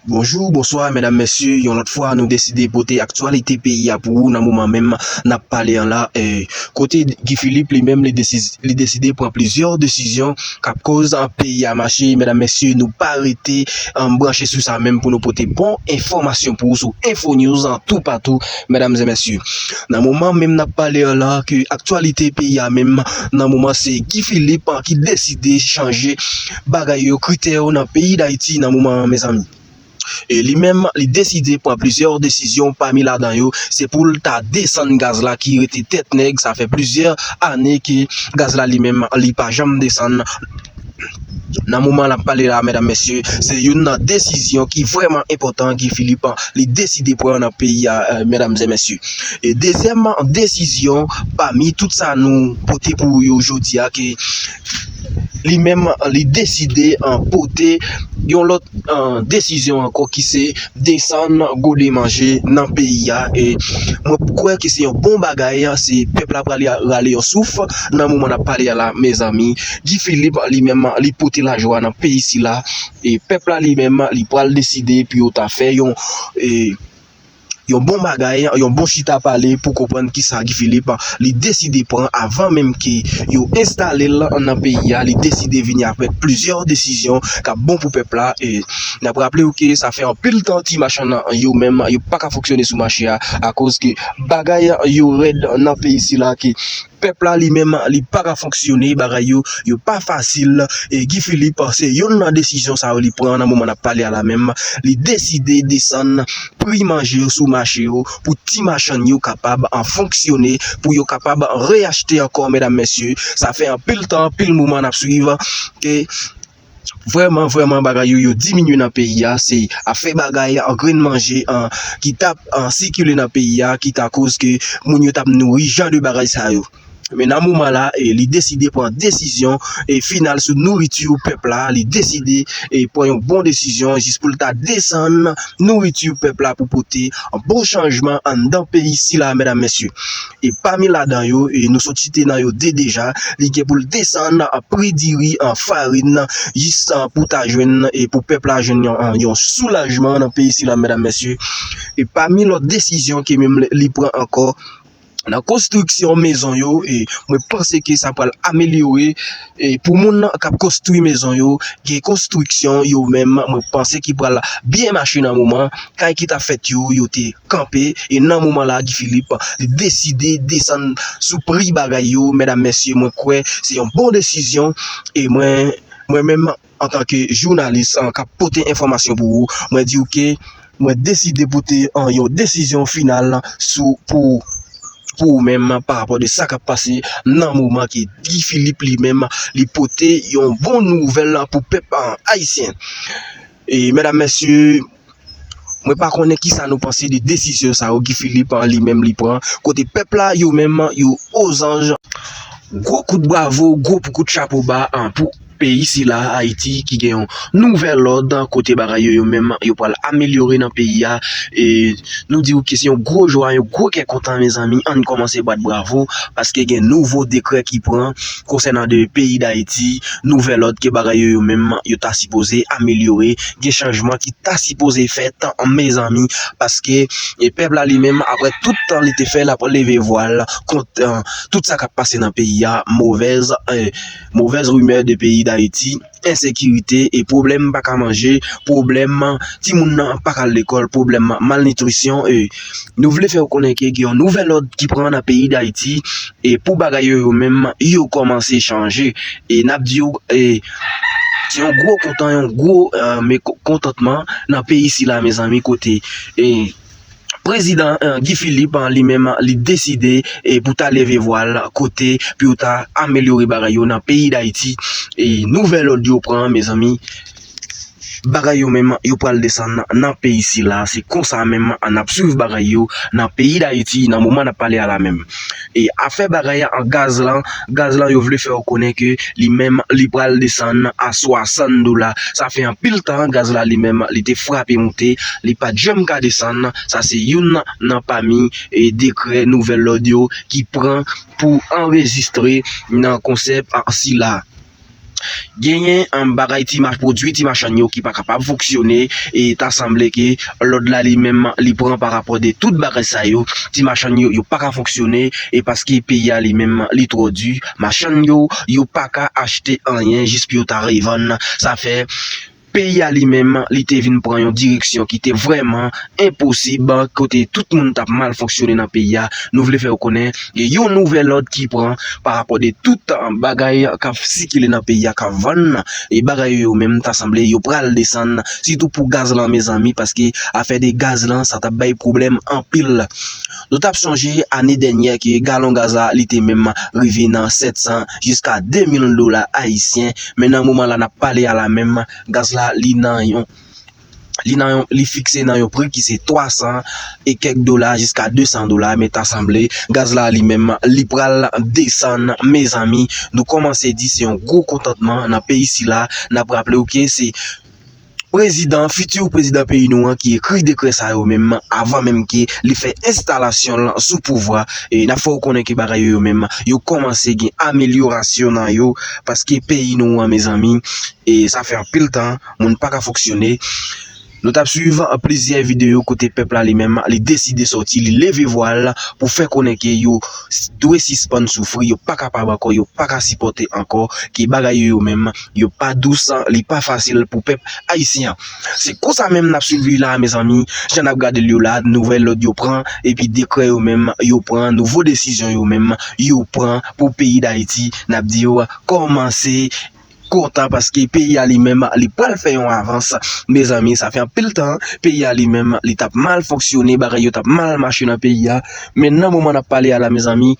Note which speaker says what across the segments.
Speaker 1: Bonjou, bonswa, medam mesye, yon lòt fwa nou deside pote aktyalite peyi a pou ou nan moman menm nap pale an la, kote Guy Philippe li menm li deside pran plizyè desizyon kap koz peyi a mache, medam mesye nou pa rete branche sou sa menm pou nou pote bon enfòmasyon pou ou sou Infonews toupatou medam e mesye. Nan moman menm nap pale an la ke aktyalite peyi a menm nan moman se Guy Philippe ki deside chanje. Bagay yo krite yo nan peyi Dayiti nan moman an mezanmi. E li menm li deside pran plizyè desizyon pami ladan yo se pou l ta desann gaz la ki rete tèt nèg sa fè plizyè ane ke gaz la li menm li pa janm desann nan moman n ap pale la medam mesye se youn nan desizyon ki vrèman enpòtan Guy Philippe li deside pran nan peyi a medam e mesye. E dezyèm desizyon pami tout sa nou pote pou ou yo jodi a ke li menm li deside pote yon lòt desizyon ankò ki se desann gode manje nan peyi a e mwen kwè ki se yon bon bagay se pèp la prale rale yon souf nan moman nap pale a la mezanmi Guy Philippe li menm li pote lajwa nan peyi sila e pèp la li menm li pral deside pou yo ta fè yon e Yon bon bagay, yon bon chita pale pou konprann kisa Guy Philippe li deside pran avan menm ke yo enstale l nan peyi a, li deside vini avèk plizyè desizyon k ap bon pou pèp la. N ap raple w ke sa fè anpil tan ti machann yo menm yo pa ka fonksyone sou mache a akoz ke bagay yo rèd nan peyi sila ke Pèp la li menm li pa ka fonksyone, bagay yo yo pa fasil e Guy Philippe se yonn nan desizyon sa yo li pran nan moman nap pale a la menm, li deside desann pri manje yo sou mache yo pou ti machann yo kapab fonksyone, pou yo kapab reyachte ankò medam mesye, sa fè anpil tan anpil moman nap swiv ke. Vrèman vrèman bagay yo yo diminye nan peyi a se afè bagay an grenn manje an ki tap an sikile nan peyi a ki ta koz ke moun yo tap nouri jan de bagay sa yo men nan moman la e li deside pran desizyon e final sou nouriti pèp la li deside e pran yon bon desizyon jis pou l ta desann nouriti pèp la pou pote bon chanjman anndan peyi sila medam mesye. e pami ladan yo nou sot site nan yo 2 deja, li gen pou l desann pri diri, farin, jis pou ta jwenn e pou pèp la jwenn yon soulajman nan peyi sila medam mesye, e pami lòt desizyon ke menm li pran ankò nan konstriksyon mezon yo, mwen panse ke sa pral amelyore. Pou moun kap konstwi mezon yo gen konstwiksyon yo menm mwen panse ki pral byen mache nan moman kay ki ta fèt yo yo te kanpe e nan moman la Guy Philippe li deside desann sou pri bagay yo mèdam mesye mwen kwè se yon bon desizyon e mwen menm Antan ke jounalis kap pote enfòmasyon pou ou, mwen di ou ke mwen deside pote yon desizyon final sou pou pou ou menm pa rapò de sa kap pase nan moman ke Guy Philippe li menm li pote yon bon nouvèl pou pèp ayisyen. E mèdam mèsye. Mwen pa konnen kisa nou panse de desizyon sa yo Guy Philippe an li menm li pran kote pèp la yo menm yo ozanj. Gwo kout bravo, gwo kout chapo ba pou peyi sila Ayiti ki gen yon nouvèl lòd kote bagay yo yo menm yo pral amelyore nan peyi a e nou di ou ke se yon gwo jwa, yon gwo kè kontan mezanmi ann kòmanse bat bravo paske gen nouvo dekrè ki pran. konsènan de peyi Dayiti, nouvèl òd ke bagay yo yo menm yo ta sipoze amelyore, gen chanjman ki ta sipoze fèt mezanmi paske pèp la li menm aprè tout tan li te fè l ap leve vwa l kont tout sa k ap pase nan peyi a, movèz rimè de peyi Dayiti. ensekirite, pwoblèm pa ka manje, pwoblèm timoun nan pa ka al lekòl, pwoblèm malnitrisyon. Nou vle fè ou konnen ke gen yon nouvèl òd ki pran nan peyi Dayiti e pou bagay yo yo menm yo kòmanse chanje. E n ap di ou se yon gwo kontan, yon gwo mekontantman nan peyi sila mezanmi kote. Prezidan Guy Philippe li menm li deside pou ta leve vwa l kote pou yo ta amelyore bagay yo nan peyi Dayiti e nouvèl lòd yo pran mezanmi bagay yo menm yo pral desann nan peyi sila se konsa menm an ap swiv bagay yo nan peyi Dayiti nan moman n ap pale a la menm. e afè bagay a an gaz lan, gaz lan yo vle fè ou konnen ke li menm li pral desann a 60 dola, sa fè anpil tan gaz la li menm li te frape moute, li pat janm ka desann, sa se youn nan pami dekrè nouvèl lòd yo ki pran pou anrejistre nan konsèp sila. Genyen bagay ti machann, pwodwi ti machann yo ki pa kapab fonksyone e ta sanble ke lòd la li menm li pran pa rapò de tout bagay sa yo. Ti machann yo, yo pa ka fonksyone e paske peyi a li menm li twò di. Machann yo, yo pa ka achte anyen jis pou yo ta revann. Sa fè. Peyi a li menm, li te vin pran yon direksyon ki te vrèman enposib, kote tout moun t ap mal fonksyone nan peyi a. Nou vle fè ou konnen, gen yon nouvèl òd ki pran pa rapò de tout bagay k ap sikile nan peyi a, k ap vann nan, e bagay yo yo menm ta sanble yo pral desann, sitou pou gaz lan mezanmi, paske afè de gaz lan sa t ap bay pwoblèm anpil. Nou t ap sonje ane dènyè ke galon gaz la li te menm rive nan 700 jiska 2000 dola ayisyen, men nan moman la n ap pale a la menm gaz la li nan yon li nan yon li fikse nan yon pri ki se 300 e kèk dola jiska 200 dola men ta sanble gaz la li menm li pral desann mezanmi nou kòmanse di se yon gwo kontantman nan peyi sila n ap raple w ke se Prezidan, futur prezidan peyi nou an ki ekri dekrè sa yo menm avan menm ke li fè enstalasyon l sou pouvwa, n ap fè w konnen ke bagay yo yo menm yo kòmanse gen amelyorasyon nan yo paske peyi nou an mezanmi sa fè anpil tan moun pa ka fonksyone. Nou t ap swiv plizyè videyo kote pèp la li menm li deside sòti li leve vwa l pou fè konnen ke yo dwe sispann soufri yo pa kapab ankò yo pa ka sipòte ankò ke bagay yo yo menm yo pa dous li pa fasil pou pèp ayisyen an se konsa menm nap swiv li la mezanmi jan nap gadel yo la nouvèl lòd yo pran epi dekrè yo menm yo pran nouvo desizyon yo menm yo pran pou peyi dayiti nap diw kòmanse kontan paske peyi a li menm li pral fè yon avans mezanmi sa fè anpil tan peyi a li menm li tap mal fonksyone bagay yo tap mal mache nan peyi a men nan moman nap pale a la mezanmi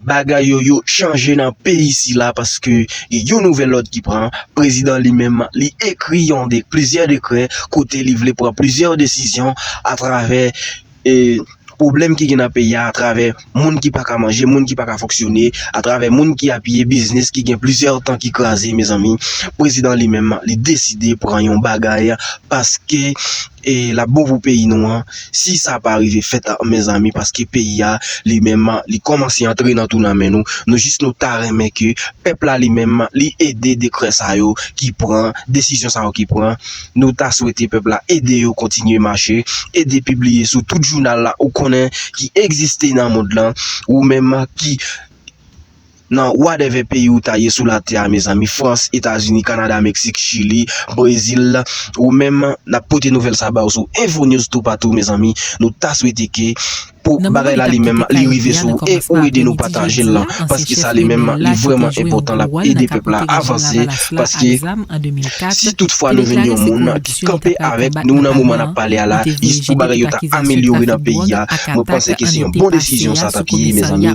Speaker 1: Bagay yo yo chanje nan peyi sila paske gen yon nouvèl lòd ki pran, prezidan li menm li ekri yon de plizyè dekrè kote li vle pran plizyè desizyon atravè e pwoblèm ki gen nan peyi a atravè moun ki pa ka manje moun ki pa ka fonksyone atravè moun ki apiye biznis ki gen plizyè tan ki kraze mezanmi prezidan li menm li deside pran yon bagay paske e lap bon pou peyi nou an si sa pa rive fèt mezanmi paske peyi a li menm li kòmanse antre nan tou nan men nou, nou jis nou ta renmen ke pèp la li menm li ede dekrè sa yo ki pran, desizyon sa yo ki pran nou ta swete pèp la ede yo kontinye mache ede pibliye sou tout jounal la ou konnen ki egziste nan mond lan ou menm ki. Nan whatever peyi ou ta ye sou la tè a mezanmi France, Etazini, Canada, Mexique, Chili, Brazil ou menm nap pote nouvèl sa ba ou sou info news toupatou mezanmi nou ta swete ke pou bagay la li menm li rive sou ou e ou ede nou patajel lan paske sa li menm li vreman enpotan lap ede pèp la avanse paske si tout fwa nou jwenn yon moun ki kanpe avèk nou nan moman nap pale a la jis pou bagay yo ta amelyore nan peyi a mwen panse ke se yon bon desizyon sa tap ye mezanmi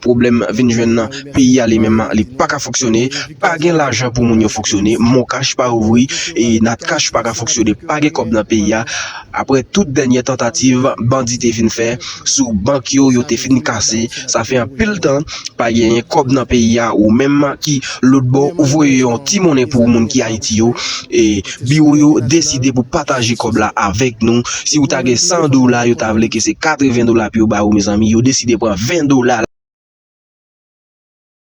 Speaker 1: Pwoblèm vin jwenn nan peyi a li menm li pa ka fonksyone, pa gen lajan pou moun yo fonksyone, moncash pa ouvri, natcash pa ka fonksyone pa gen kòb nan peyi a aprè tout dènyè tantativ bandi te fin fè sou bank yo yo te fin kase sa fè anpil tan pa genyen kòb nan peyi a ou menm ki lotbò ou voye yon ti monnen pou moun ki ayiti yo e Biwo yo deside pou pataje kòb la avèk nou, si ou ta gen 100 dola yo ta vle ke se 80 dola pou yo ba ou mezanmi yo deside pran 20 dola la.